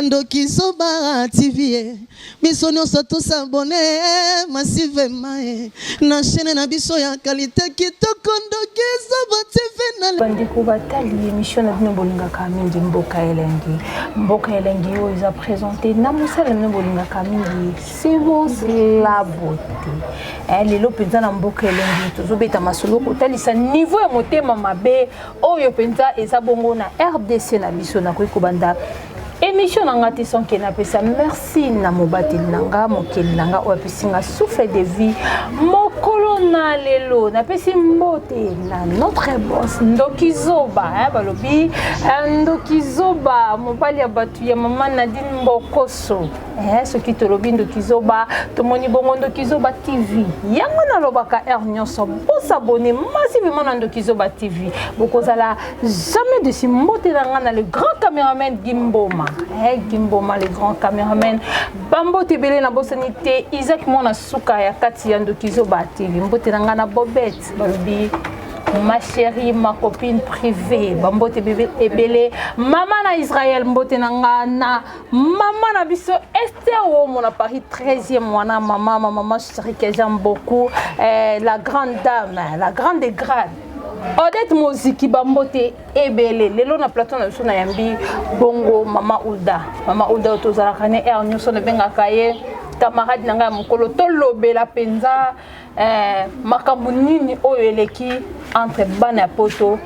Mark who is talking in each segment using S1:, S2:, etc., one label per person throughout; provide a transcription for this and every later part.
S1: ndoki zoba tv eh. biso nyonso tosabone eh, masivema eh. na chaine na biso ya kalite kitoko ndoki zoba tv bandeko batali
S2: emission na bino bolingaka mingi mboka elengi mboka elengi oyo eza présente na mosala na bino bolingaka mingi sivos la beauté lelo mpenza na mboka elengi tozobeta masolo kotalisa niveau ya motema mabe oyo mpenza eza bongo na rdc na biso nakoki kobanda émission na nga te sans ke napesa merci na mobateli na nga mokeli na nga oyo apesi nga souffle de vie mokolo na lelo napesi mbote na notre boss ndoki zoba eh, balobi ndoki zoba mobali ya bato ya mama nadine mbokoso eh, soki tolobi ndoki zoba tomoni bongo ndoki zoba tv yango nalobaka heure nyonso bosabone massivement na ndoki zoba tv bokozala jamais desi mbote na ngai na le grand cameraman gimboma eh, gimboma le grand cameraman bambote ebele na bosani te isaac mwana suka ya kati ya ndoki zoba tv mbote na ngai na bobete balobi ma chérie ma copine privée bambote ebele mama na israel mbote na nga na Maman na biso Esther Omo na Paris 13e mwana maman ma maman chérie que j'aime beaucoup eh, la grande dame la grande des grades Odette Moziki bambote ebele lelo na plateau na biso na yambi bongo maman Uda maman Uda oyo tozalaka ne air nyonso nabengaka ye camarade na ngai ya mokolo tolobela mpenza Eh, makambo nini oyo eleki entre bana ya poto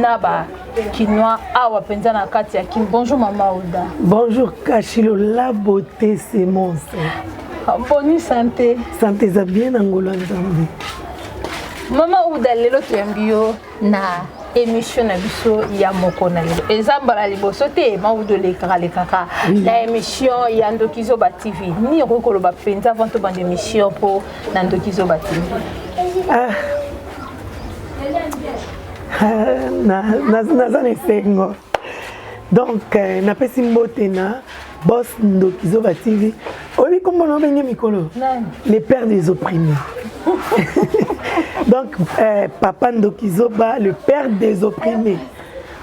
S2: na ba kinois awa mpenza na kati ya kin bonjour mama oda bonjour kashilo
S3: la beauté c'est mon ah, boni santé
S2: santé eza bien na
S3: ngolo ya nzambe
S2: mama uda lelo toyambi yo na émission na biso ya moko na lelo eza mbala liboso te maudo olekaka lekaka na émission ya ndoki zoba tv nini okoki koloba mpenza avant tobanda émission mpo na ndoki zoba tv
S3: ah. ah, naza na esengo donc euh, napesi mbote na bos ndoki zoba tv oyebi kombo na obenge mikolo le père des opprimés donc euh, papa ndoki zoba le père des opprimés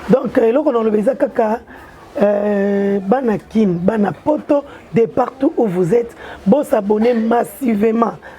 S3: donc euh, eloko naloba eza kaka Euh, bana kin bana poto de partout où vous êtes bosabonne massivement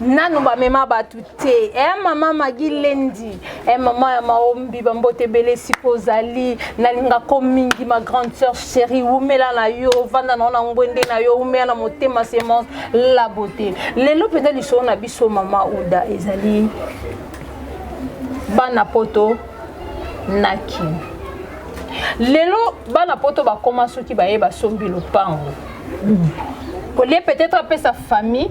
S3: nanu bamema bato te e eh, mama magi lendi e eh, mama ya maombi bambote ebele esika ozali nalinga ko mingi ma grande sœur chérie wumela na yo ovanda na yo na ngwende na yo wumela na motema semence la beauté lelo mpenza lisolo na biso mama uda ezali bana poto na kin lelo bana poto bakoma soki baye basombi lopango kolie peut-être apesa famille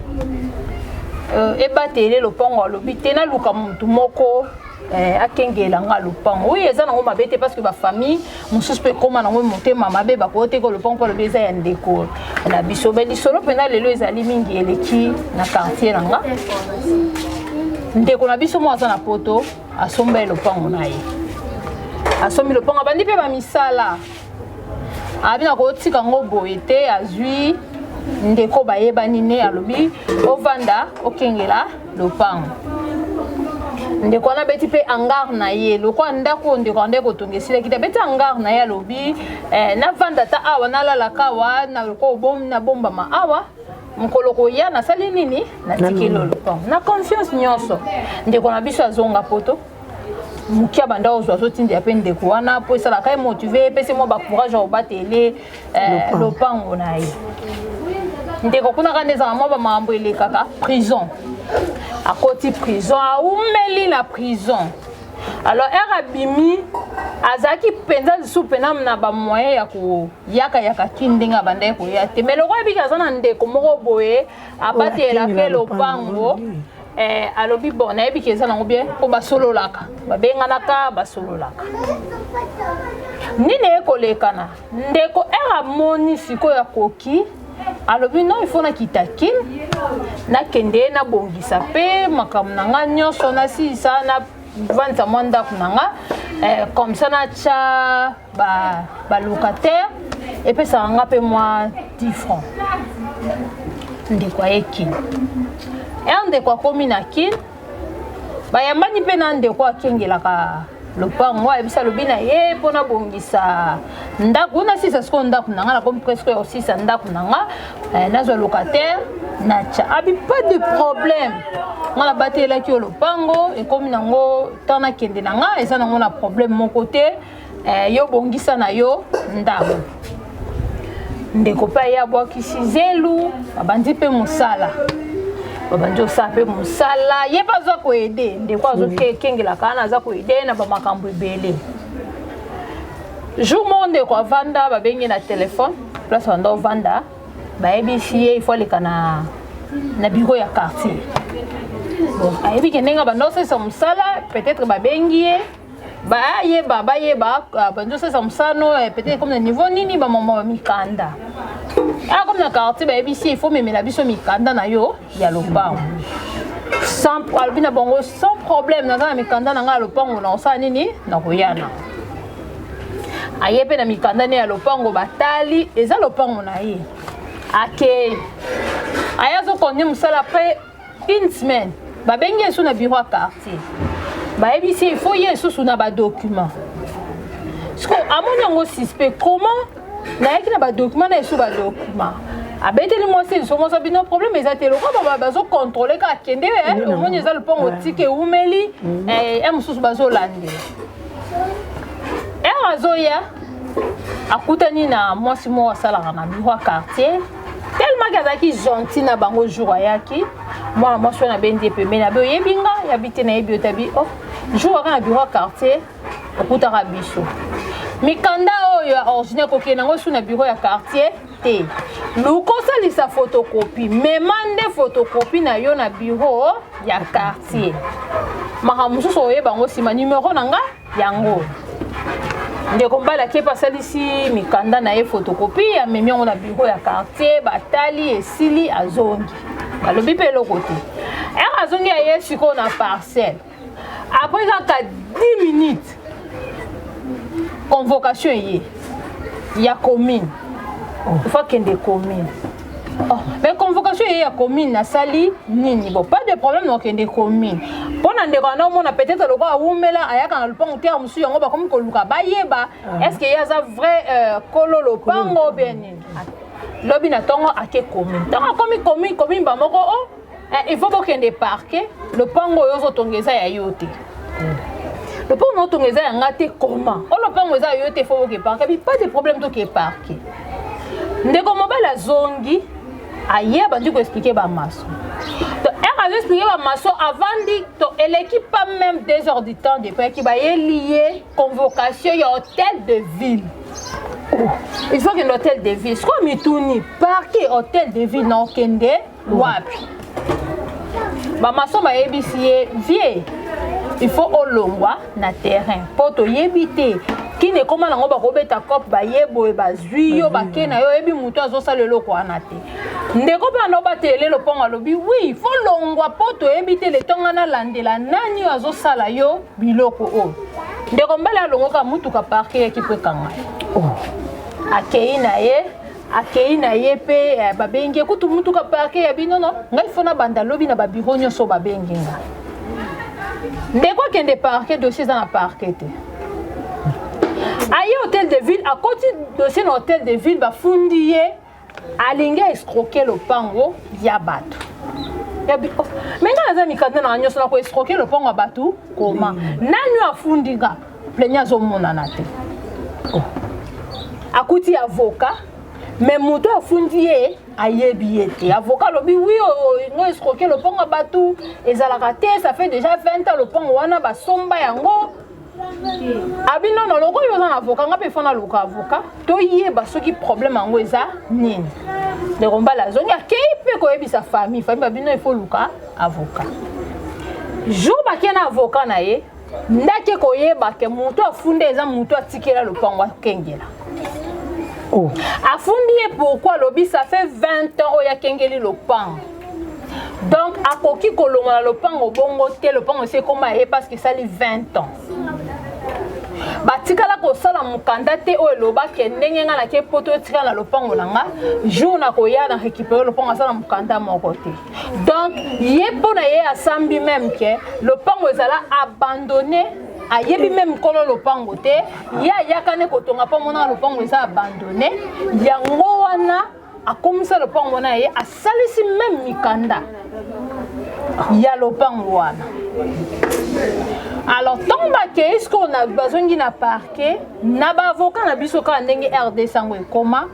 S3: euh, ebatele lopango alobi te naluka motu moko eh, akengela nga lopango oyo eza nango mabe te parce que bafamille mosusu mpe ekóma nango motema mabe bakoyo teke lopango mpo alobi eza ya ndeko na biso me lisolo mpenza lelo ezali mingi eleki na quartier na nga ndeko na biso moko aza na poto asomba ye lopango na ye asombi lopango abandi mpe bamisala abi na kotika ngo boye te azwi ndeko bayebani ne alobi ovanda okengela lopango ndeko wana abeti mpe hangar na ye lokola ndako oyo ndeko anda ekotonga esilaki te abeti hangar na ye alobi eh, navanda ata awa nalalaka awa nabombama awa mokolo koya nasali nini natikeli lopango na confiance nyonso ndeko na biso azonga poto mokia banda ozwa azotindela mpe ndeko wana mpo esalaka ye motive epesi mwa bacourage ya kobatele eh, lopango na ye ndeko kuna kanda ezalaka mwa bamakambo elekaka prison akoti prison aumeli na prison alors ere abimi azalaki mpenza lisusu mpena na bamoyen ya koyakayaka ki ndenge abandaki koya te mai loko ayebiki aza na ndeko moko boye abatelela mpe lopango eh, alobi bon nayebi ke eza nango bien mpo basololaka babenganaka basololaka nini ekolekana ndeko r amoni sikoyo akoki alobi non il faut nakita kin nakende nabongisa mpe makambo na ngai nyonso nasilisa navandisa mwa ndako na ngai eh, comme ça natya ba ba locataire epesaka nga mpe mwa 10 franc ndeko aye kin er ndeko akomi na kin bayambani mpe na ndeko akengelaka lopango ayebisi alobi na ye mpo nabongisa ndako na sisa sikoyo ndako na nga nakomi presque ya kosisa ndako na nga eh, nazwa locataire natya abi pas de problème nga nabatelaki yo lopango ekomi nango ntan nakende na nga eza nango na problème moko te eh, yo bongisa na yo ndako ndeko mpe aye abwakisi zelu babandi mpe mosala babandi osala mpe mosala ye mpe aza koede ndeko azokengelaka wana aza koede na bamakambo ebele jour moko ndeko avanda babengi na telefone place banda ovanda bayebisi ye ifo aleka na na biro ya quartier bon ayebi ke ndenge banda osalisa mosala peut-être babengi ye bayeba bayeba ah, banzosalisa mosano eh, peut-être comme na niveau nini bamama ba mikanda a ah, comme na quartier bayebisi il faut memela biso mikanda na yo ya lopango alobi na bango sans problème naza na mikanda na ngai ya lopango na kosala nini na koyana aye mpe na mikanda ne ya lopango batali eza lopango na ye akei aye azokonde mosala mpe une semaine babengi ye lisusu na bureau ya quartier bayebisi ye il faut ye lisusu na badocument siko amoni yango suspect comment nayaki na badocument na lisusu badocument abeteli mwasi liso mwasi bino problème eza te lokola bazocontrole kaka kende eh, omoni eza lopango tika ewumeli mm. eh, ya mosusu bazolande ere azoya akutani na mwasi moko asalaka na biro ya quartier tellement ke azalaki gentil na bango jour ayaki mwana mwasi wana abendi ye pembeni abe oyebi nga yabi te nayebi yo tabi o oh, jour waka na biro ya quartier okutaka biso mikanda oyo ya originaire kokende yango su na biro ya quartier te luka osalisa fotokopi mema nde fotokopi na yo na biro ya quartier makambo mosusu oyeba yango nsima nimero na nga yango ndeko mbala kepe asalisi mikanda na ye fotokopi amemi yango na biro ya quartier batali esili azongi balobi mpe eloko te ere azongi ya ye sikoyo na parcelle après kaka 10 minutes convocation eye ya commune oh. faut akende commune Oh, mais convocation eye ya commune nasali nini bon pas de problème nakokende commune mpo na ndeko wana omona peut-être lokola awumela ayaka na lopango te ya mosusu yango bakomi koluka bayeba ah. est ce que ye aza vrai euh, kolo lopango bien nini lobi na ntongo ake commune ntango akomi commune commune bamoko o oh, Eh, il faut bokende parquet lopango oyo ozotonga eza ya yo te lopango na otonga eza ya nga te koma o lopango eza ya yo te il faut boke parquet bi pas de problème toke parquet ndeko mobali azongi aye abandi koexplike bamaso to ere azoexplike bamaso avandi to eleki pas même deux heures du temps depuis ayaki bayeli ye convocation ya hôtel de ville oh, il faut kende hôtel de ville sikoyo mituni parke hôtel de ville na okende wapi bamaso bayebisi ye vie il faut olongwa na terrain mpo toyebi te kini ekoma nango bakobeta cop baye boye bazwi yo bake na yo oyebi motu azosala eloko wana te ndeko mpe wana obatele lopango alobi wi fo longwa mpo toyebi te letonga nalandela nani oyo azosala yo biloko oyo ndeko mbele alongoka motuka parke yaki mpo ekanga oh. akei na ye akei na ye mpe eh, babengi ye kutu motuka parke ya bino no ngai fo nabanda lobi na babiro nyonso babengi nga ndeko akende parke dossier eza na parke te aye hôtel de ville akoti dossier na hôtel de ville bafundi ye alingi aescroke lopango ya bato oh, me ngai naza mikanda na nyonso na koescroke lopango ya bato koma nani afundi nga pleni azomonana te oh. akuti avocat me moto afundi ye ayebi ye te avocat alobi wi ngo escroke lopango ya bato ezalaka te ça fait déjà 20 ans lopango wana basomba yango abi nono lokola oza na avocat nga mpe fana aluka avocat toyeba soki problème yango eza nini ndeko mbala azongi akei mpe koyebisa famille famille babino ifo luka avocat jour bakei na avocat na ye ndaki koyeba ke moto afunda eza moto atikela lopango akengela
S4: oh. afundi ye
S3: pourkui alobi ça fait 20 ans oyo akengeli lopango donc akoki kolongola lopango bongo te lopango esi ekoma ye parce que esali 20 ans batikala kosala mokanda te oyo elobaki ndenge ngai nake poto etikala na lopango na ngai jour nakoya na récupere lopango asala mokanda moko te donc ye mpo na ye asambi meme ke lopango ezala abandonne ayebi meme nkolo lopango te ye ayaka ne kotonga mpo amonaka lopango eza abandonne yango wana akomisa lopango wana ye asalisi meme mikanda ya lopango wana alors ntango bakei sikoyo bazongi na parke na baavoka na biso kaka ndenge rdc yango ekoma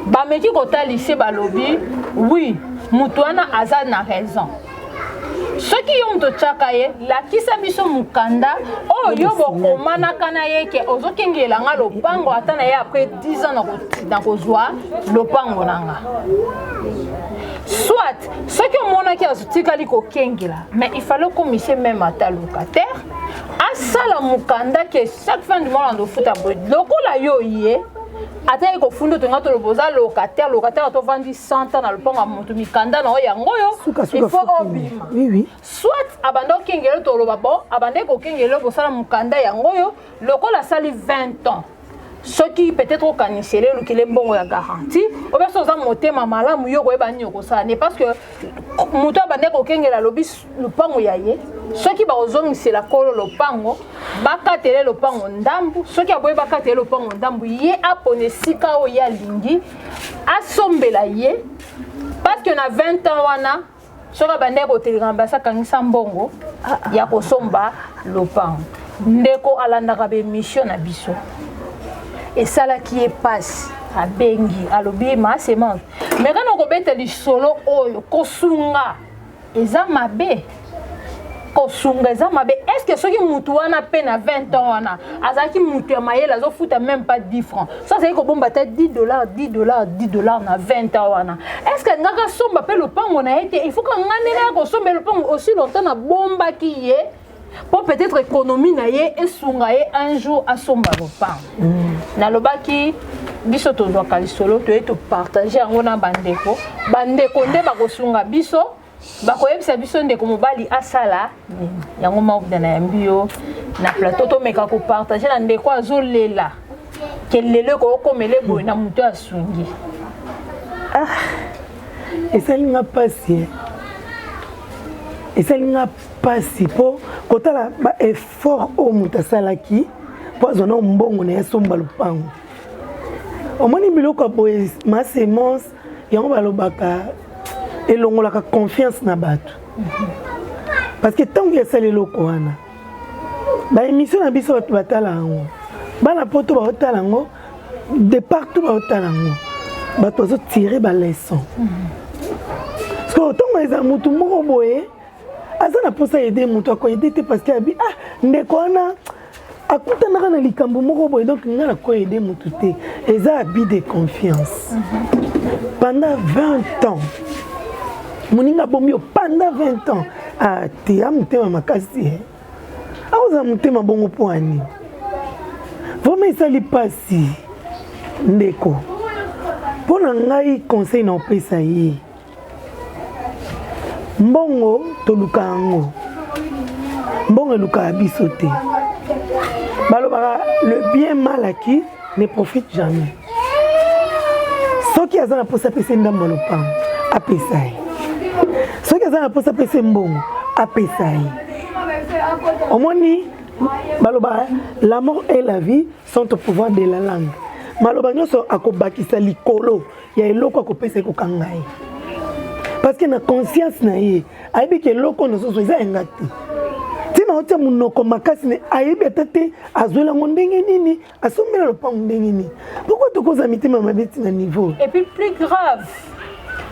S3: bameki kotalise balobi wi moto wana aza na raison soki yo moto otyaka ye lakisa biso mokanda oyo yo bokomanaka na ye ke ozokengela nga lopango ata na ye apres 10 ans na kozwa lopango na nga soit soki omonaki azotikali kokengela mais ifale okomise meme ata locataire asala mokanda ke chaque fin du mois andofuta boye lokola yo ye ata ye kofunda otonga toloba oza locataire locataire to vandi 100 ans na lopango ya moto mikanda na oyo yango oyo il faut obima oui, oui. soit
S4: abanda
S3: okengele toloba bon abanda ekokengele bosala mokanda yango oyo lokola asali 20 ans soki peut-être okaniseli olukile mbongo ya garantie obe so oza motema malamu yo koyeba nini okosala ne parce que moto abande kokengela alobi lopango ya ye soki bakozongisela kolo lopango bakatele lopango ndambu soki aboyi bakatele lopango ndambu ye apona esika oyo ye alingi asombela ye parce que na 20 ans wana soki abandaki koteleka na basi akangisa mbongo ya kosomba lopango ndeko alandaka baemission na biso esalaki ye mpasi abengi alobi ma semence me kana okobeta lisolo oyo kosunga eza mabe kosunga eza mabe est ce que soki mutu wana mpe na 20 ans wana azalaki mutu ya mayele azofuta même pas 10 francs so azali kobomba ata 10 dollars 10 dollars 10 dollars na 20 ans wana est ce que alingaki asomba mpe lopango na ye te il faut ka ngai ndenge ya kosomba lopango aussi longtemps nabombaki ye mpo peut-être économie na ye esunga ye un jour asomba lopango mm. nalobaki biso tozwaka lisolo toye topartage yango na bandeko bandeko nde bakosunga biso bakoyebisa biso ndeko mobali asala nini yango maobda na yambi yo na plateau tomeka kopartage na ndeko azolela kelelo ekokomela eboye na moto asungi ah,
S4: esali nga mpasi eh. esali nga mpasi mpo kotala baeffort oyo moto asalaki mpo azwa nao mbongo na ye asomba lopango omoni biloko ya boye masemence yango balobaka elongolaka confiance na bato parce que ntango esali eloko wana baémission na biso bato batala yango bana poto baotala yango de partout baotala yango bato bazotire baleson sikoyo ntongo eza motu moko boye aza na mposa aide moto akoaide te parce que abi ah ndeko wana akutanaka na likambo moko boye donc ngai nakoaide moto te eza abi de confiance mhm. pendant 20 ans moninga abomi yo pendant 20 ans ateya ah, motema makasi eh. akozala motema bongo mpo ani vraimen esali mpasi ndeko mpo na ngai conseil na opesa ye mbongo toluka yango mbongo elukaka biso te balobaka le bien mal acquis ne profite jamais soki aza na mposa apesa ndambo ya lopango apesa ye soki aza na mposa apesa mbongo apesa ye omoni balobaka la mort et la vie centre pouvoir de la langue maloba nyonso akobakisa likolo ya eloko akopesa ekokanga ye parce que na conscience na ye ayebi ke eloko nozozo eza yanga te ntina otia monoko makasi ne ayebi ata te azwela yango ndenge nini asombela lopango ndenge nini pourkoi tokoza mitema mabe ntina niveau et puis plus grave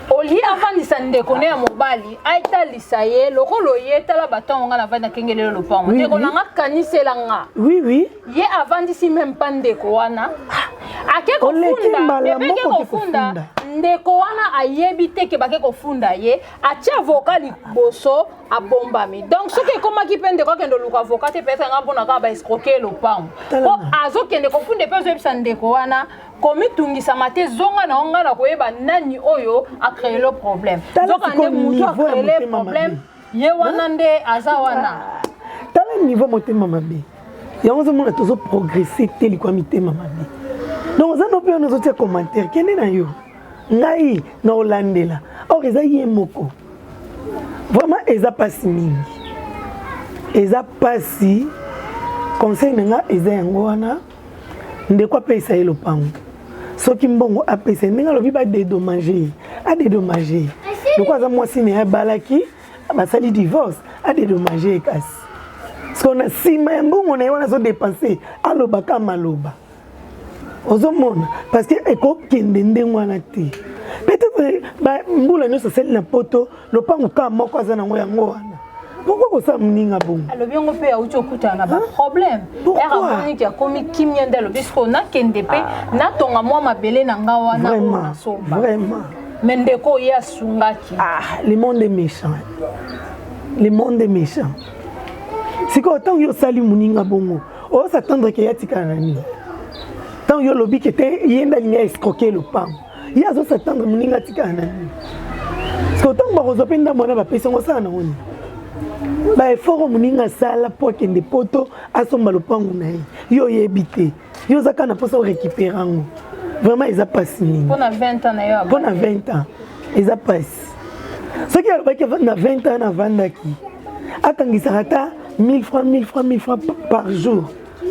S3: olie afandisa ndeko ne ya mobali atalisa ye lokola oye tala batango nga navandi nakengelelo lopango ndeko na nga kanisela nga oui oui ye
S4: avandisi
S3: meme pa ndeko wana ake kofunda ebeke kofunda ndeko wana ayebi te ke bake kofunda ye atie avoka liboso abombami donc soki ekomaki mpe ndeko akende oluka avoka te peut-être nga mpona kaka baescroke ye lopango mpo azokende kofunda mpe azoyebisa ndeko wana komitungisama te zonga na yo ngai na koyeba nani oyo acreelo problème nzoka nde moto acreele problème ye wana nde aza wana tala niveau
S4: motema mabe yango ozomona tozo progresse te likwa mitema mabe donc oza nope wana ozotia commentaire kende na yo ngai na olandela or eza ye moko vraiment eza mpasi mingi eza mpasi conseil na nga eza yango wana ndeko apesa ye lopango soki mbongo apesa ye ndenge alobi badedomage ye adedomage ye loko aza mwasi na ye abalaki basali divorce adedomage ye kasi siko na nsima ya mbongo na ye wana azodepense alobaka maloba ozomona parce que ekokende ndenge wana te peut-être mbula nyonso asali na poto lopango ka moko aza nango yango wana pourkoi kosala moninga bongo alobi yango mpe auti
S3: okutana na baproblème ere amoni ti akomi kimia nde alobi sikoyo nakende mpe ah. natonga mwa mabele na nga wana oyo nasomba me
S4: ndeko ye
S3: asungaki ah, le monde est
S4: méchant le monde est méchant sikoyo ntango yo osali moninga bongo osa tendre ke yatikala na nini ntango yo olobi ke te ye nde alingi aescroke lopango ye azosa tanga moninga atikala na nini siko ntango bakozwa mpe ndambo wana bapesi yango osala na wani baefort oyo moninga asala mpo akende poto asomba lopango na ye yo oyebi te yo oza kaka na mposa orécupere yango vraiment eza mpasi nini
S3: mpo na 20 ans
S4: eza mpasi soki alobaki na 20 ans navandaki akangisaka ata 1000 francs 1000 francs 1000 francs par jour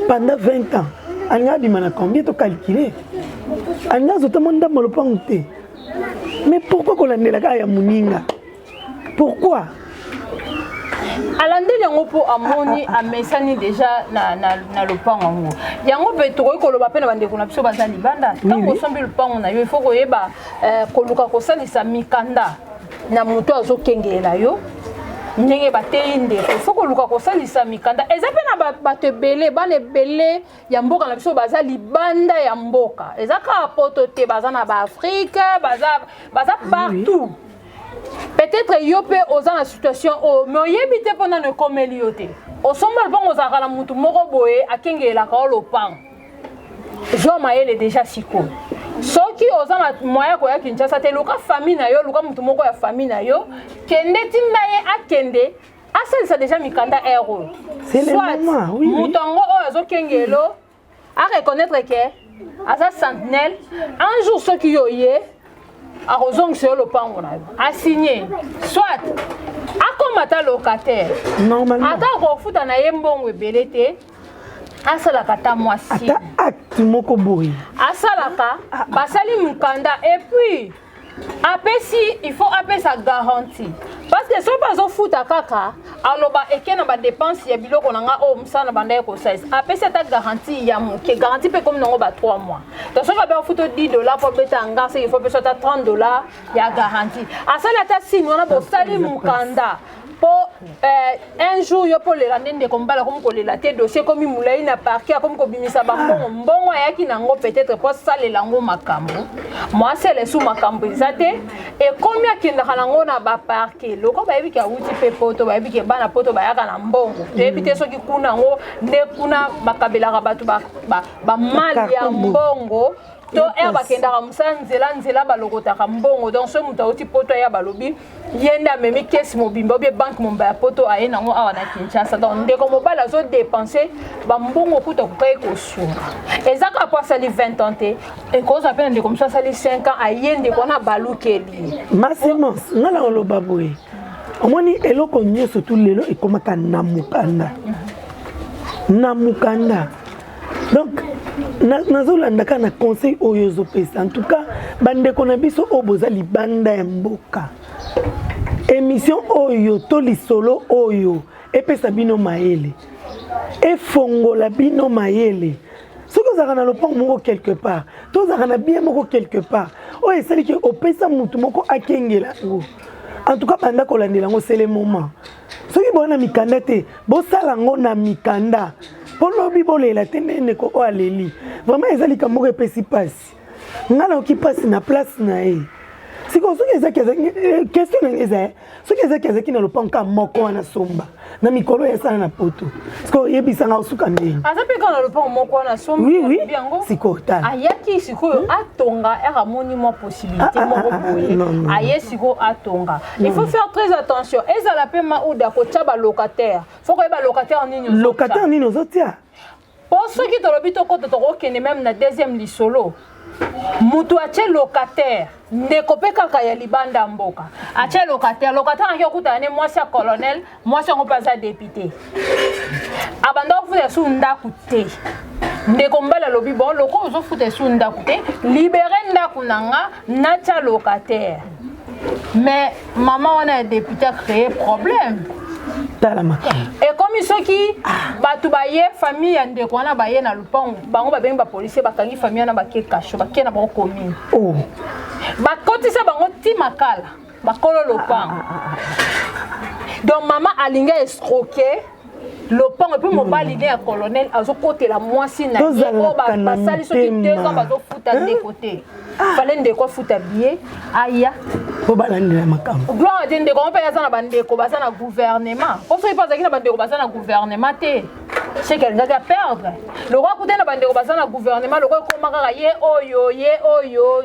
S4: Pendant 20 ans, alinga abima na combien to calculer? Alinga azota mwa ndambo lopango te. Mais pourquoi kolandela kaka ya moninga? Pourquoi?
S3: alandeli yango mpo amoni amesani deja na, na, na lopango yango yango mpe tokoki koloba mpe na bandeko na biso baza libanda ntango osombi lopango na yo ifo koyeba eh, koluka kosalisa mikanda na moto azokengelela yo ndenge bateyi ndeko il faut koluka kosalisa mikanda eza mpe na bato ebele bana ebele ya mboka na biso baza libanda ya mboka eza kaka poto te baza na baafrike baza, baza partout peut-être yo mpe oza na situation oyo me oyebi te mpo nano ekomeli yo te osombala mpongo ozalaka na motu moko boye akengelelaka yo lopango zwa mayele deja siko soki oza na moyen koya kinshasa te luka famille na yo luka motu moko ya famille na yo kende tinda ye akende asalisa deja mikanda air oyo soit moto yango oyo azokengelo areconnaitre ke aza sentinelle un jour soki yo ye akozongisa yo lopango na yo asigne soit akoma ata locataire ata akofuta na ye mbongo ebele te asalaka ata mwasi ata acte
S4: moko boye asalaka
S3: ah, ah. basali mokanda epuis apesi il faut apesa garantie parce que soki azofuta kaka aloba eke na badepense ya biloko na nga oyo oh, mosala na banda ye kosalisa apesi ata garantie ya moke garantie mpe ekomi nango ba 3 mois to soki abe afuta 10 dollar mpo abeta nga soki ifo pesa ata 30 dollar ya garantie asali ata sini wana bosali mokanda po eh, un jour yo mpo olela nde ndeko mobali akomi kolela te dossier ekomi molai na parke akomi kobimisa bambongo mbongo ayaki na yango peut-être mpo asalela yango makambo mwasi alesu makambo eza te ekomi akendaka na yango na baparke loko bayebi ke awuti mpe poto bayebi ke bana poto bayaka na mbongo toyebi te soki kuna yango nde kuna bakabelaka bato bamali ya mbongo to ere bakendaka mosala nzela nzela balokotaka mbongo donc soki moto auti poto aya balobi ye nde amemi kesi mobimba obie banke momba ya poto aye nango awa na kinshasa donc ndeko mobali azodepense bambongo kutu akokaki kosunga eza kaka mpo asali 20 ans te ekozwa mpe na ndeko mosusu asali 5 ans aye ndeko wana abalukeli masimos
S4: nga na oloba boye omoni eloko nyonso tu lelo ekomaka na mokanda na mokanda donc nazolanda kaka na conseil oyo ozopesa en tout cas bandeko na biso oyo boza libanda ya mboka émission oyo to lisolo oyo epesa bino mayele efongola bino mayele soki ozalaka na lopango moko quelque part to ozalaka na bien moko quelque part oyo esali ke opesa motu moko akengela yango en tout cas banda kolandela yango sele moment soki boza na mikanda te bosala yango na mikanda mpo lobi bolela te nde ndeko oyo aleli vraiment eza likambo moko epesi mpasi ngai nayoki mpasi na place na ye sikoyo soki ezaki ezaki eh, question nanga eza eh, soki ezaki ezaki na lopango kaka moko wana somba na mikolo ya esala na poto sikoyo oyebisanga osuka ndenge aza mpe kaka na lopango
S3: moko wana sombiyango sikoyo
S4: tala ayaki sikoyo hmm?
S3: atonga ere amoni mwa possibilité ah, ah, moko ah, boye aye sikoyo atonga il faut faire très attention ezala mpe mauda kotya balocataire fo koyeba locataire nini locataire nini ozotia mpo soki tolobi tokota tokokende meme na deuxième lisolo moto atye locataire ndeko mpe kaka ya libanda mboka atye locataire locataire anaki okutana ne mwasi ya colonel mwasi yango mpe aza depute abanda kofuta esu ndako te ndeko mobali alobi bon lokola ozofuta esu ndako te libere ndako na nga natya locataire mais mama wana ya depute acree problème tala makambo ekomi soki bato baye famille ya ndeko wana baye na lopango bango babengi bapolisier bakangi famille wana bake kasho bake na bango commune oh. bakotisa bango ti makala bakolo lopango ah, ah, ah, donc mama alingi escroke lopango epuis mobali ne ya colonel azokotela mwasi na ye oyo basali soki deux ans bazofuta ndeko te fale ndeko afuta biye aya po balandela
S4: makambo gloire te ndeko yango mpe aza
S3: na bandeko baza na gouvernement mpo soki mpe azalaki na bandeko baza na gouvernement te seke alingaki aperdre lokola kuta na bandeko baza na gouvernement lokola ekoma kaka ye oyo ye oyo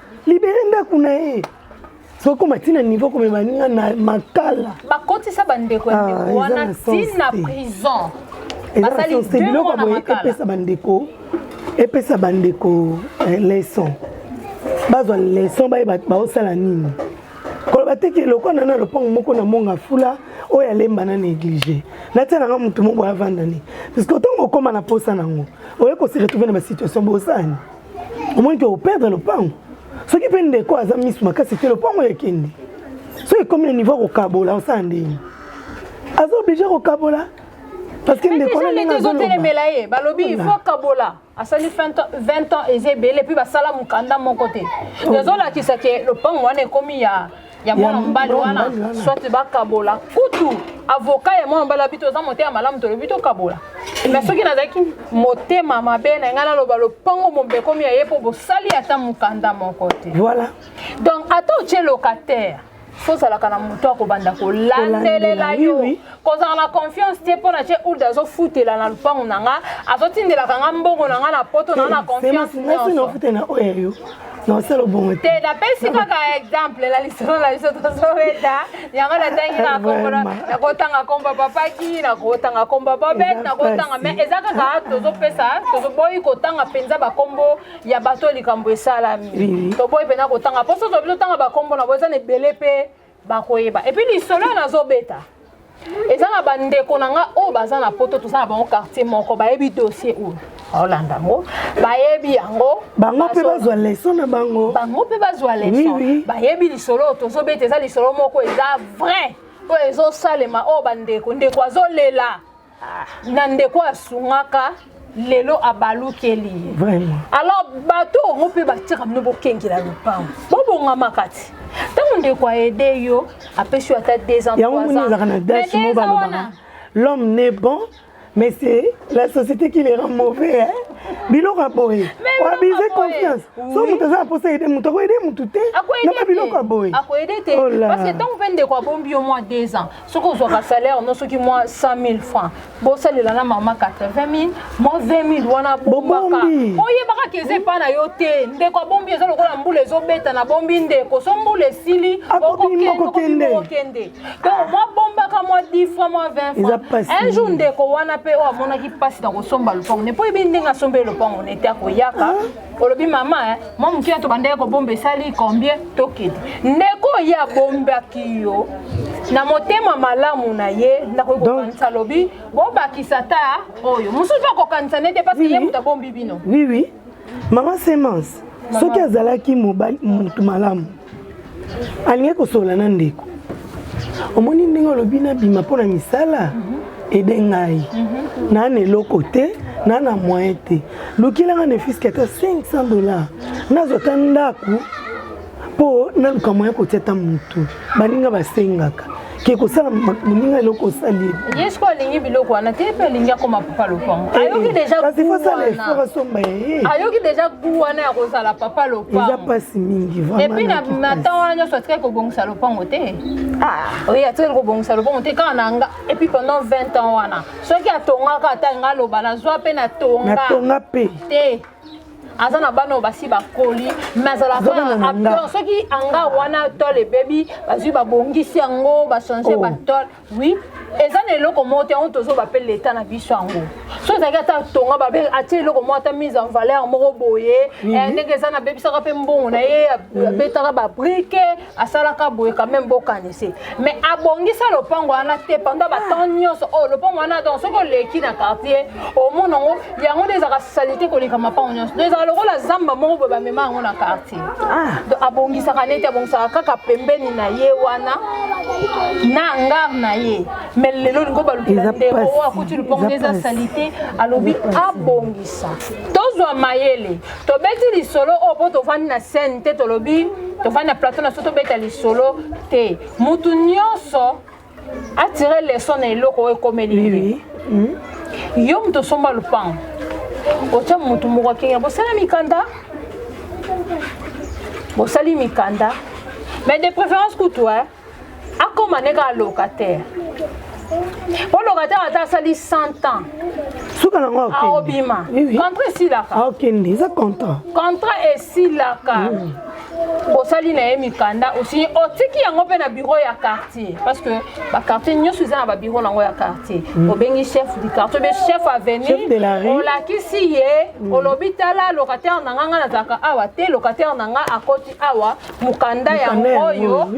S4: libere ndako na ye sokoma ntina nivo komema ninga na makala bakotisa bandeko
S3: ya ah, ndeko wana ntina prison biloko boye
S4: epesa bandeko epesa bandeko eh, leson bazwa leson bayeba baosala nini koloba te ke lokola nana lopango moko na monga fula oyo alemba na néglige natia nanga motu moko avanda ne puisque ntango okóma na mposa nango oye kose retrouve na basituation bosani omoni ke operdre lopango soki mpe ndeko aza misu makasi te lopango ekende soki ekomi na niveau ya kokabola osala ndenge aza oblige kokabola parce que ndeko na ndenge azotelemela ye balobi
S3: il faut kabola asali 20 ans eza ebele mpe basala mokanda moko te ezolakisa ke lopango wana ekomi ya ya mwana mobali wana soit bakabola kutu avoka ya mwana mobali abito oza motema malamu tolobi tokabola mais soki nazalaki motema mabe na ngai naloba lopango mombekomi ya ye mpo bosali ata mokanda moko te voilà donc
S4: ata
S3: otye locataire fozalaka na moto ya kobanda kolandelela yo kozala na confiance te mpo na ce old azofutela na lupango na nga azotindelaka nga mbongo na nga na poto na na confiance
S4: nosala obongo te napesi kaka
S3: exemple na lisolo na biso tozobeta yango natangi nakotanga komba papaki nakotanga komba babet nakotanga me eza kaka tozopesa tozoboyi kotanga mpenza bakombo ya bato likambo esalami toboyi mpenza kotanga mpo so tobi totanga bakombo na bo eza na ebele mpe bakoyeba epuis lisolo oyo nazobeta eza na bandeko na nga oyo baza na poto toza na bango quartier moko bayebi dossier oyo olanda yango bayebi yango bango mpe bazwa
S4: leso na bango bango mpe bazwa
S3: leso bayebi lisolo oyo tozobeta eza lisolo moko eza vrai oyo ezosalema oyo bandeko ndeko azolela ah. na ndeko asungaka lelo abalukeli ye alors
S4: bato
S3: yango mpe batika bino bokengela lopango bobongamaka ti ntango ndeko aede yo apesi yo ata deux ans yango moni ezalaka na dash mo balobaka l'homme n'est
S4: bon mais c'est la société qui les rend mauvais hein? biloko ya boye oabize confiance so moto aza na mposa aide moto akoyede motu te na babiloko ya boye akoyede te oh parce
S3: que ntango mpe ndeko abombi yo mwa deux ans soki ozwaka salaire no soki mwa 100 000 francs bosalela na mama 80 000 mwa 20 000 wana bombaka oyebaka ke eza epai na yo te ndeko abombi eza lokola mbula ezobeta na bombi ndeko so mbula esili okokende donc mwa bombaka mwa 10 francs mwa 20 francs un jour ndeko wana mpe oyo amonaki mpasi na kosomba lopango ne mpo oyebi ndenge asombeli lopango nete akoyaka ah. olobi mama eh, mwa moke ya tobandaki kobomba esali combien tokende ndeko ye abombaki yo na motema malamu na ye nakoki kokanisa lobi bobakisa ta oyo mosusu mpe akokanisa nete mpasi ye moto abombi bino oui oui
S4: mama semence soki azalaki motu malamu alingi kosolola na ndeko omoni ndenge olobi nabima mpo na misala mhm. ede ngai mhm. naa na eloko te naa na moyen te lukelanga na efiski ata 500 dollars nazwa ata ndako mpo naluka moyen kotia ata motu baninga basengaka ke kosala moninga eloko osali ye siko alingi biloko
S3: wana te mpe alingi akoma papa lopango eh, ayoki eh, dejaayoki deja gu wana ya kozala papa lopangoeza mpasi mingi
S4: epuis na matan
S3: wana nyonso atikaki kobongisa lopango te ah. oye atikaki kobongisa lopango te kaka na nga epuis pendant 20 ans wana soki atongaka ata nga aloba nazwa mpe natonga natonga mpe te aza na bana oyo basi bakoli me azalaka soki anga wana tole ebebi bazwi babongisi yango bachange oh. batole oui eza na eloko moko te yango tozoba mpe leta na biso yango so ezalaki ata tonga babe atie eloko moko ata mise en valeur moko boye eh, ndenge eza nabebisaka mpe mbongo na ye abetaka babrike asalaka boye quand même bokanise mais abongisa lopango wana te pendant batemp ah. nyonso oyo oh, lopango wana donc soki oleki na quartier omona yango yango nde ezalaka salite koleka mapango nyonso donc ezalaka lokola zamba moko boye bamema yango na quartier ah. donc abongisaka neti abongisaka kaka pembeni na ye wana na ngar na ye mais lelo lingo balukela ndeko oyo akuti lopango nde eza salite alobi abongisa tozwa mayele tobeti lisolo oyo mpo tofandi na scène te tolobi tofandi na plateau na so tobeta lisolo te motu nyonso atire leson na eloko oyo ekomeli ye hmm? yo moto osomba lopango otya motu moko akenge bosala mikanda bosali mikanda mais de préférence kutu akoma ne kaka locataire mpo locataire ata asali 100 ans suka nango
S4: aobima
S3: contrat esilaka aokende eza contrat
S4: contrat esilaka mm. osali na ye mikanda osinye otiki yango mpe na biro ya quartier parce que baquartier nyonso eza na babiro na yango ya quartier mm. obengi chef du quartier obe chef avenue olakisi ye mm. olobi tala locataire na nga nga nazalaka awa te locataire na nga akoti awa mokanda yango oyo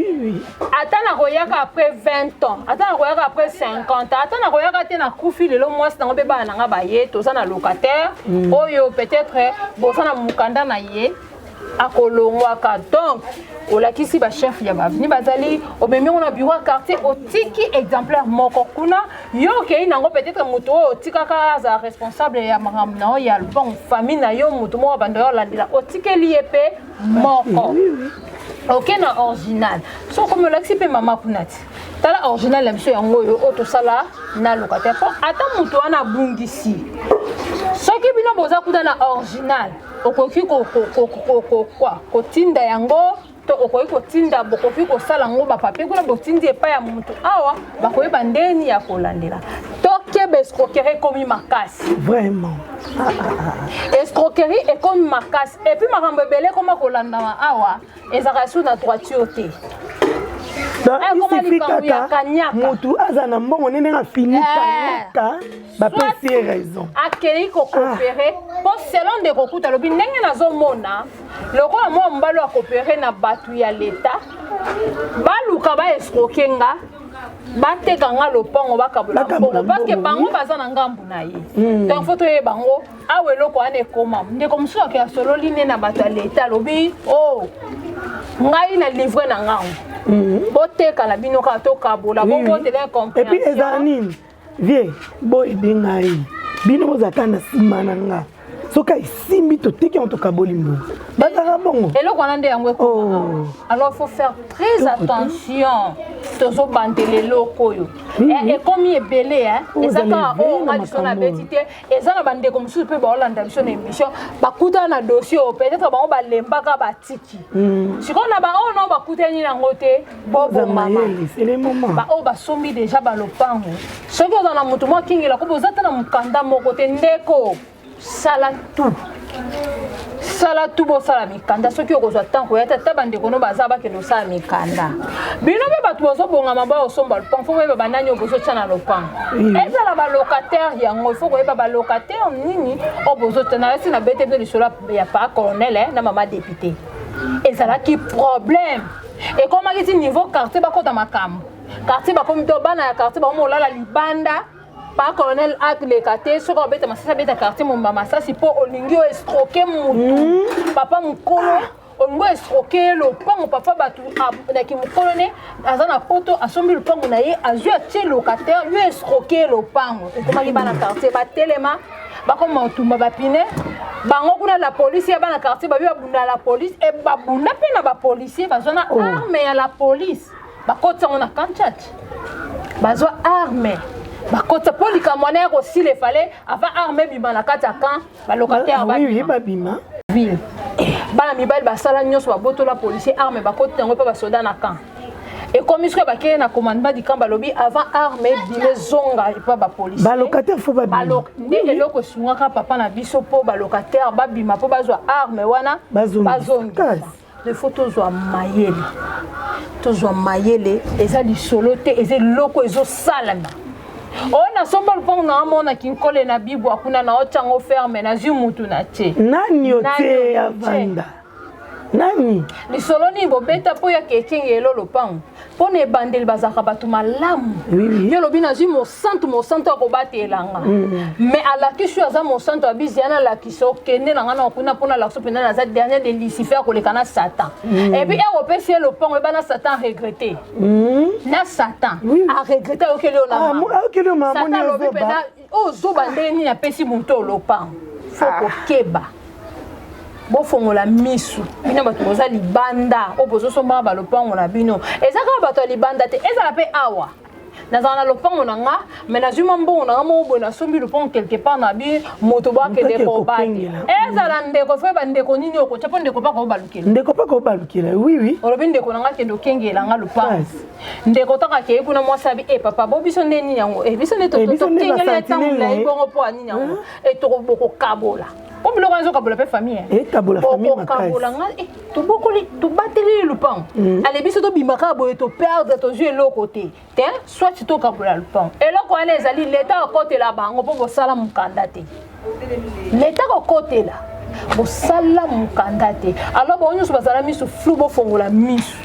S4: ata nakoyaka après 20 ans ata nakoyaka après 50 ans ata nakoyaka te nakufi lelo mwasi nango mpe bana na ngai baye toza na locataire mm. oyo peut-être boza na mokanda na ye akolongwaka donc olakisi bachef ya baveni bazali omemi yango na biro ya quartier otiki exemplaire moko kuna yo okei nango peut-être moto oyo otikaka azala responsable ya makambo na yo ya lopango famille na yo moto moko bando ya olandela otikeli ye mpe moko oke na original so okomi olakisi mpe mama kuna ti tala original ya biso yango oyo oyo tosala na locataire mpo ata moto wana abungisi soki bino boza kuta na original okoki kotinda yango to okoki kotinda bokoki kosala yango bapapie kuna botindi epai ya motu awa bakoyeba ndeni ya kolandela tokeba escroquerie ekomi makasi vraiment ah, ah, ah,
S3: escroquerie ekomi makasi Et puis makambo ebele ekoma kolandama awa ezalaka sur na droiture te isifi
S4: kaka motu aza na mbongo nde ndenge afini kanyaka eh. bapesi ye raison akei kokopere
S3: ah. mpo selon nde kokuta alobi ndenge nazomona lokola mwa mobali ya kopere na bato ya leta baluka baesroke nga bateka nga lopango bakabola mbongo parceke bango baza na ngambu na ye hmm. donc fo toyeba yango awa eloko wana ekoma ndeko mosusu ake asololi nde na bato ya leta alobi o oh, ngai na livre na ngango mhm. boteka na bino kaka tokabola bobotela epuis ezala nini
S4: vie boyede ngai bino bozala kaka na nsima na ngai soki ayisimbi toteki yango tokaboli mbongo bazalaka bongo eloko wana nde yango
S3: ekoma oh. alors faut faire très attention tozobandela eloko oyo eh, ekomi ebele oh, eza kaka oyo nga liso nabeti te eza na bandeko mosusu mpe baolanda biso na émission bakutana na dossier oyo peut-être bango balembaka batiki hmm. sikoyo na baoyo nao bakutani nango te bobomamabaoyo basombi deja balopango soki oza na moto mwa kingela kobo oza ata na mokanda moko te ndeko sala tout sala tu bosala mikanda soki okozwa ntango koya te ata bandeko no baza bakende osala mikanda bino mpe bato bozobongama bao osomba lopango fo koyeba banani oyo bozotya na lopango ezala balocataire yango ifo koyeba balocataire nini oyo bozotya nalasi na bete bino lisolo ya pa colonel eh, na mama depute ezalaki problème ekomaki ti niveau quartier bakota makambo quartier bakomi to bana ya quartier bakomi olala libanda pa colonel atleka te soki obeta masasi abeta quartier momba masasi mpo olingi oestroke motu hmm. papa mokolo olingi oestroke ye lopango papa bato na kimokolo ne aza na poto asombi lopango na ye azwi atie locataire yo estroke ye lopango ekomaki bana quartier batelema bakoma otumba bapine bango kuna la polisi ya bana quartier babi babunda la polisi e babunda mpe na bapolisier bazwa na oh. arme ya la polisi bakotisa yango na kanchat bazwa arme bakotisa mpo likambo wana ya kosila efale avant arme ebima na kati ya camp balocataire babima
S4: ville
S3: bana mibali basala nyonso babotola policier arme bakoti yango mpe basoda na camp ekomi soki bakei na commandement du camp balobi avant arme ebima ezonga epa bapolicibalocataire fo babima
S4: nde eloko
S3: esungaka papa na biso mpo balocataire babima mpo bazwa arme wana bazonga Il faut tozwa mayele tozwa mayele eza lisolo te eza eloko ezosalana oyo oh, nasomba lupango na amona kinkole na bibwa kuna na otyango ferme nazwi mutu na te nani otie
S4: avanda nani lisolo nini
S3: bobeta mpo ya kekenge elo lopango mpo na ebandeli bazalaka bato malamu yo olobi nazwi mosantu mosantu ya kobatela nga mm. mais alakisi oyo aza mosantu ya bizi yana alakisa okende na ngai na kuna mpo nalakisa mpenza naza dernier de lucifer akoleka na satan mm. epuis ere opesi ye lopango eba na satan aregrete mm. na satan aregrete ayokeli yo naayokeli yo mamonisatan
S4: alobi mpenza
S3: oyo zoba ndenge nini apesi moto oyo lopango fo ah. kokeba bofongola misu bino bato boza libanda oyo bozosombaka balopango na bino eza kaka bato ya libanda te ezala mpe awa nazala na lopango na nga me nazwi mwa mbongo na nga moko boye nasombi lopango quelque part na bi moto bakende kobaki ezala ndeko fo bandeko nini okotya mpo ndeko mpaka obalukela ndeko mpaka obalukela wiwi olobi
S4: ndeko na nga kende
S3: okengela nga lopango ndeko ntango akei kuna mwasi abi e papa bo biso nde nini yango e biso nde tokengeli ya ntango molai bongo mpo anini yango e tokobokokabola mpo biloko yango ezokabola mpe famille okokabola
S4: nga
S3: tobokoli tobateli lupango ale biso tobima kaka boye toperdre tozwi eloko te te soit tokabola lupango eloko wana ezali leta akotela bango mpo bosala mokanda te leta kokotela bosala mokanda te alors bango nyonso bazala miso flou bofongola miso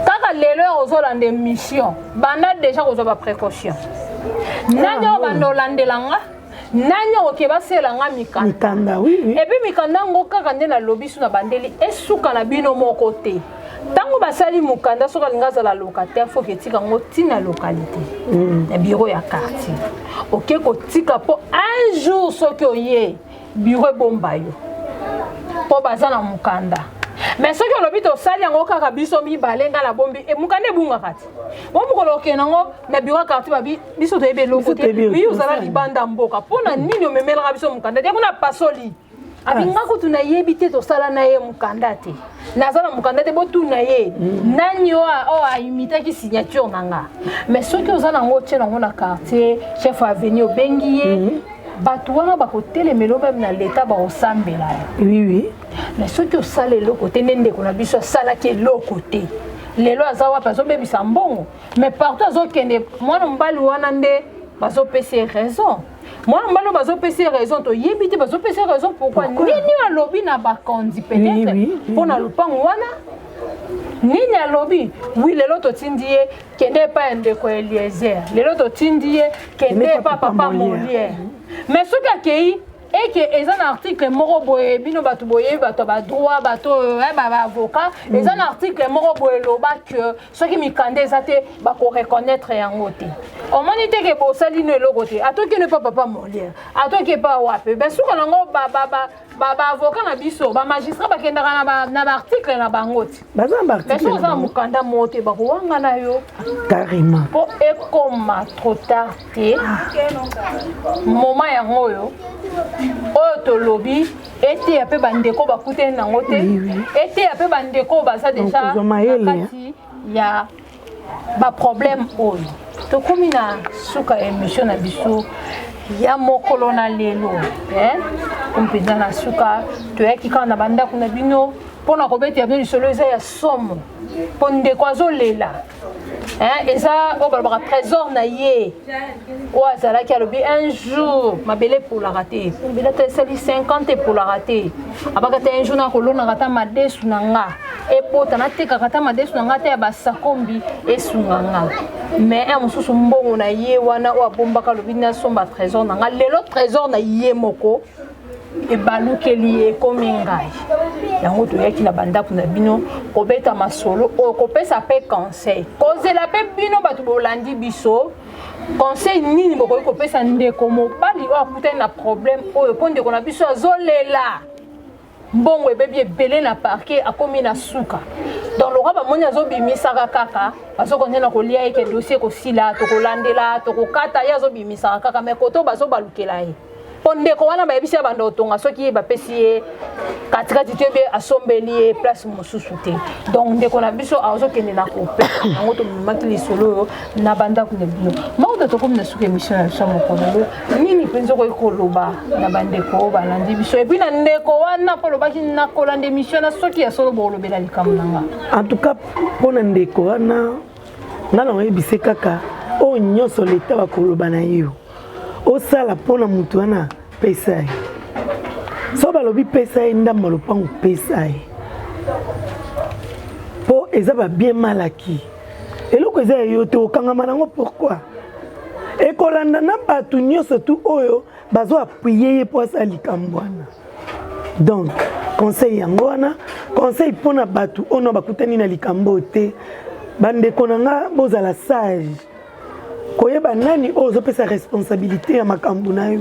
S3: kaka lelo ya kozolanda émission banda déjà kozwa baprécaution nani oyo banda olandela nga nani okoke basela nga mikanda epuis mikanda
S4: yango
S3: kaka nde nalobi so na bandeli esuka na bino moko te ntango basali mokanda soki alingi azala locataire foki etika yango ntina localité mm. na biro ya quartier oke kotika mpo un jour soki oye biro ebomba yo mpo baza na mokanda mais soki olobi tosali yango kaka biso mibale ngai nabombi e, mokanda ebungaka te bo mokolo okende yango na biro ya quartier babi biso toyebi eloko te bi ozala libanda mboka mpo na nini omemelaka biso mokanda te kuna pasoli abinga kutu nayebi te tosala na ye mokanda te naza na mokanda te botuna ye mm. nani oyo aimitaki signature na nga mais soki oza nango otye nango na quartier chef aveni obengi ye mm. bato wana bakotelemela meme na leta bakosambela yo oui, oui.
S4: mais soki
S3: osala eloko te nde ndeko na biso asalaki eloko te lelo aza wapi azobebisa mbongo mais partout azokende mwana mobali wana nde bazopesa ye raison mwana mobali oyo bazopesa ye raison toyebi te bazopesa ye raison pourkui nini alobi na bakonzi peut-être mpo na lopango wana nini alobi wi lelo totindi ye kende epai ya ndeko ya eliezer lelo totindi ye kende epai papa moliere mais soki akei eke eza na article moko boye bino bato boyebi bato ya badroit bato oyo eh, baavocat eza na article moko boye eloba que soki mikanda eza te bakoreconnaitre yango te omoni te ke bosali no eloko te atoki no epa papa moliere atoki epa wapi basuka nango baavoka na biso bamagistrat bakendaka na baarticle na bango ti basi oza na
S4: mokanda moko
S3: te bakowangana yo carrément mpo
S4: ekoma
S3: trop tard te moma yango oyo oyo tolobi eteya mpe bandeko bakutani nango te eteya mpe bandeko baza deja nakati ya baproblème oyo tokomi na suka ya émission na biso ya mokolo na lelo mpenza na suka toyaki kaka na bandako na bino mpo na kobetela bino lisolo eza ya somo mpo ndeko azolela Hein, eza oyo balobaka trésor na ye oyo azalaki alobi un jour mabele epolaka te mabele ata esali 50 epolaka te abaka te un jour nakolonaka ata madesu na nga epota natekaka ata madesu na nga ata ya basakombi esunga nga mais un mosusu mbongo na ye wana oyo abombaka alobi nasomba trésor na nga lelo trésor na ye moko ebalukeli ye ekomi ngai yango toyaki na bandako na bino kobeta masolo oyo kopesa mpe conseil kozela mpe bino bato bolandi biso conseil nini bokoki kopesa ndeko mobali oyo akutani na problème oyo mpo ndeko na biso azolela mbongo ebebi ebele na parke akomi na suka donc lokola bamoni azobimisaka kaka bazokende na kolia ye ke dossier ekosila tokolandela tokokata ye azobimisaka kaka mai koto bazobalukela ye po ndeko wana bayebisi ya banda otonga soki ye bapesi ye katikati to ebe asombeli ye place mosusu te donc ndeko na biso azokende na kope yango tomemaki lisolo oyo na bandako na bino maoda tokomi na suka émission na biso ya mokolo lelo nini mpenza okoki koloba na bandeko oyo balandi biso epuis na ndeko wana mpo olobaki nakolanda émission na soki ya solo bokolobela likambo na nga en tout cas
S4: mpo na ndeko wana nga na oyebise kaka oyo nyonso leta bakoloba na yo osala mpo na moto wana pesa ye so balobi pesa ye ndambo lopango pesa ye mpo eza babien malaki eloko eza ya yo te okangama nango pourkui ekolanda na bato nyonso tu oyo bazo appuye ye mpo asala likambo wana donc conseil yango wana conseil mpo na bato oyo bakutani na likambo te bandeko na nga bozala sage koyeba nani oyo ozopesa responsabilité ya makambo na yo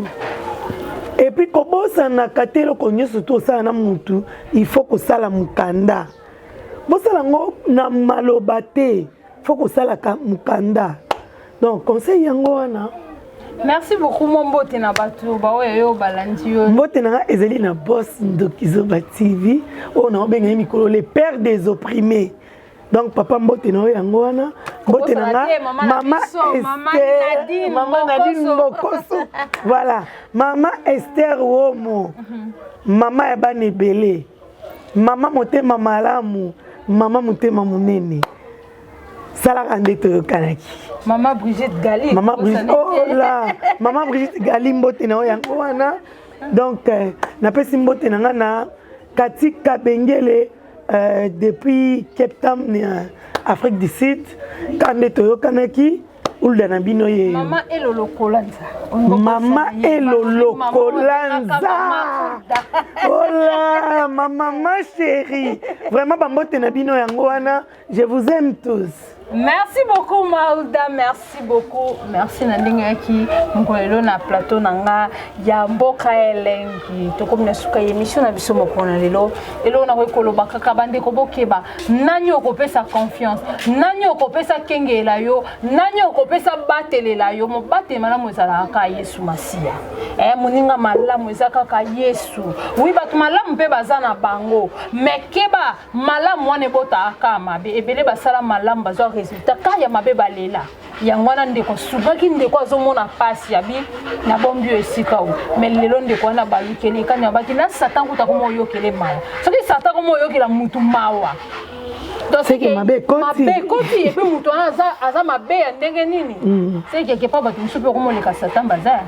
S4: epuis kobosanaka te eloko nyonso to osala na motu il faut kosala mokanda bosala yango na maloba te fo kosalaka mokanda donc conseil yango wana merci
S3: beaucoup mo mbote na bato baoyo yo balandi yo mbote na nga ezali na
S4: bos ndokizoba tv oyo naobenga ye mikolo le père des opprimés donc papa mbote na yo yango wana mbote na nga mama ester mama nadine mokoso voilà mama ester womo mhm. mama ya bana ebele mama motema malamu mama motema monene salaka nde toyokanaki mama brigitte
S3: gali mama brigitte ola
S4: oh mama brigitte gali mbote na yo yango wana donc euh, napesi mbote na nga na kati kabengele Euh, depuis Cape Town, euh, Afrique du Sud, quand on est au Yokanaki, ulda na bino ye mama elolokolanza
S3: mama
S4: elolokolanza ola mama ma chérie vraiment bambote na bino yango wana Je vous aime tous. Merci beaucoup
S3: Mauda, merci beaucoup. Merci na ndenge yaki mkolelo na plateau na nga ya mboka elengi. Tokomi na suka emission na biso moko na lelo. Elo na koloba kaka bande ko bokeba. Nani okopesa confiance? Nani okopesa kengela yo? Nani okopesa batelela yo? Mobate malamu ezala kaka Yesu Masiya. Eh moninga malamu eza kaka Yesu. Oui bato malamu mpe baza na bango. Mais keba malamu wana ebotaka kaka mabe ebele basala malamu bazwa resultat kaka ya mabe balela yango wana ndeko souvaki ndeko azomona mpasi ya bi nabombi yo esika oyo mai lelo ndeko wana balukeli ekani abaki na satan kuta koma oyokele mawa soki satan koma oyokela mutu mawa
S4: seke mabe ekoti epe
S3: moto wana aza mabe ya ndenge nini mm. sekeke mpo bato mosusu mpe okomoleka satan baza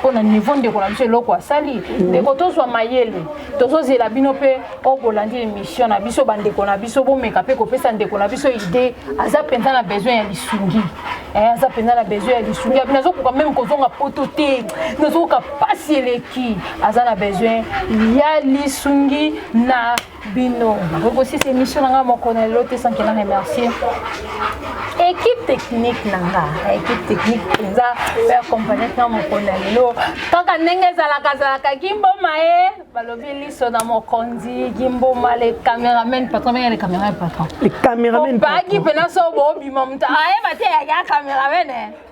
S3: mpo na niveau ndeko na biso eloko asali mm. ndeko tozwa mayele tozozela bino mpe oyo bolandi émission na biso bandeko na biso bomeka mpe kopesa ndeko na biso idée aza mpenza na besoin ya lisungi eh, aza mpenza na besoin ya lisungi abi nazokoka meme kozonga poto te nazokoka mpasi eleki aza na besoin ya lisungi na bino nakokosisa émission na ngai moko na lelo te sankela remercier équipe technique na nga équipe technique mpenza oyo accompagnaki nga mokolo na lelo kaka ndenge ezalaka azalaka gimboma ye eh. balobi liso na mokonzi gimboma le cameraman patron menge le cameraman patron le cameraman
S4: obaki mpena so
S3: bobima moto ayeba te yaya cameraman eh.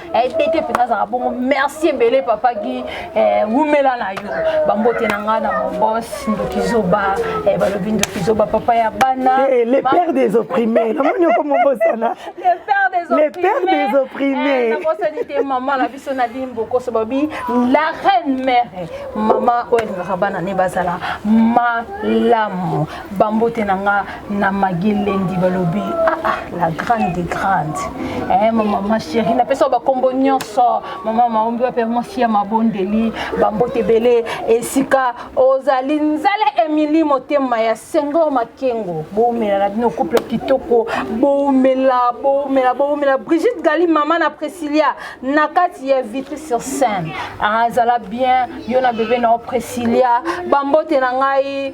S3: ebete eh, mpenza azalaka bongo merci ebele papa gi eh, wumela na yo bambote na ngai na mobos ndoki zoba eh, balobi ndoki zoba papa ya bana le père des
S4: opprimés namoni oko mobosana le père des opprimés nabosani te mama
S3: na biso na limbokoso babi la reine mère mama oyo alingaka bana ne bazala malamu bambote na nga na magelendi balobi ah, ah, la grande des grandes eh, mama ma chérie napesa bakombo nyonso mama maombi wape mwasi ya mabondeli bambote ebele esika ozali nzala emili motema ya sengo makengo boumela na bino couple kitoko boumela boumela boumela brigitte gali mama na presilia na kati ya vitre sur scène azala ah, bien yo na bebe na yo presilia bambote na ngai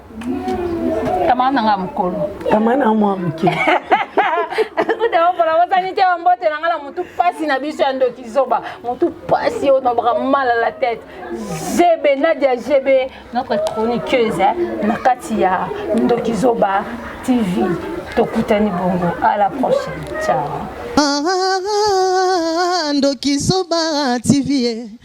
S3: Tamara na nga mukolo. Tamara na mwa muke. Kudawa pona wasani te mbote na nga na mutu pasi na biso ya ndoki zoba. Mutu pasi yo na baka mal à la tête. GB Nadia GB notre chroniqueuse hein, na kati ya ndoki zoba TV. Tokutani bongo à la prochaine. Ciao. Ah, ah, ah, ah, ah
S1: ndoki zoba TV. Eh.